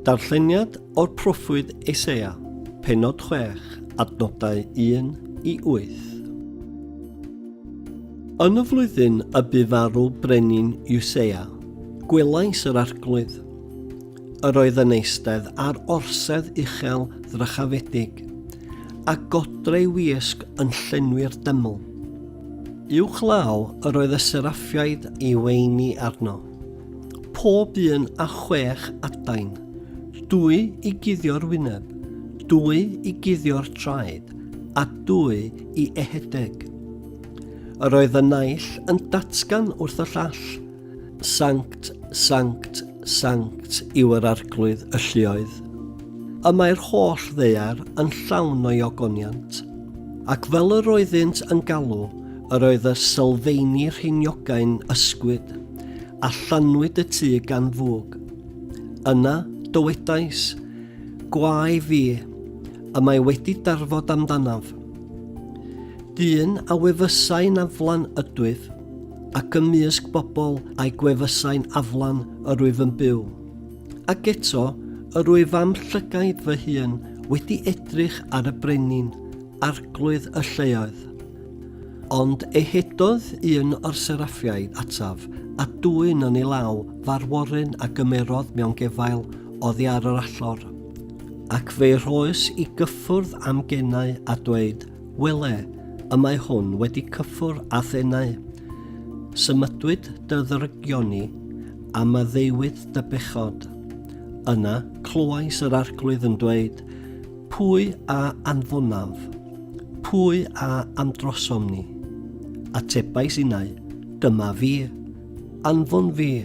Darlleniad o'r proffwyd Eseia, penod 6, adnodau 1 i 8. Yn y flwyddyn y bu farw brenin Iwseia, gwelais yr arglwydd. Yr oedd yn eistedd ar orsedd uchel ddrychafedig, a godreu wisg yn llenwi'r dyml. I'w chlaw yr oedd y seraffiaid i weini arno. Pob un a chwech adain, dwy i guddio'r wyneb, dwy i guddio'r traed, a dwy i ehedeg. Yr oedd y naill yn datgan wrth y llall, Sanct, sanct, sanct yw yr arglwydd y lluoedd. Y mae'r holl ddeiar yn llawn o'i ogoniant, ac fel yr oeddynt yn galw, Yr oedd y sylfeini rheiniogau'n ysgwyd, a llanwyd y tŷ gan fwg. Yna, dywedais, Gwae fi, y mae wedi darfod amdanaf. Dyn a wefysau'n aflan ydwyf, ac ymysg bobl a'i gwefysau'n aflan yr wyf yn byw. Ac eto, yr wyf am llygaid fy hun wedi edrych ar y brenin, arglwydd y lleoedd. Ond ehetodd un o'r seraffiaid ataf, a dwyn yn ei law farworyn a gymerodd mewn gefail oddi ar yr allor. Ac fe'i rhoes i gyffwrdd am genau a dweud, Wele, y mae hwn wedi cyffwr â thenau. Symudwyd dy ddrygion i, a maddeuwyd dy bechod. Yna, clywais yr Arglwydd yn dweud, Pwy a anfonaf? Pwy a amdrosom ni? Atebais innau, Dyma fi. Anfon fi.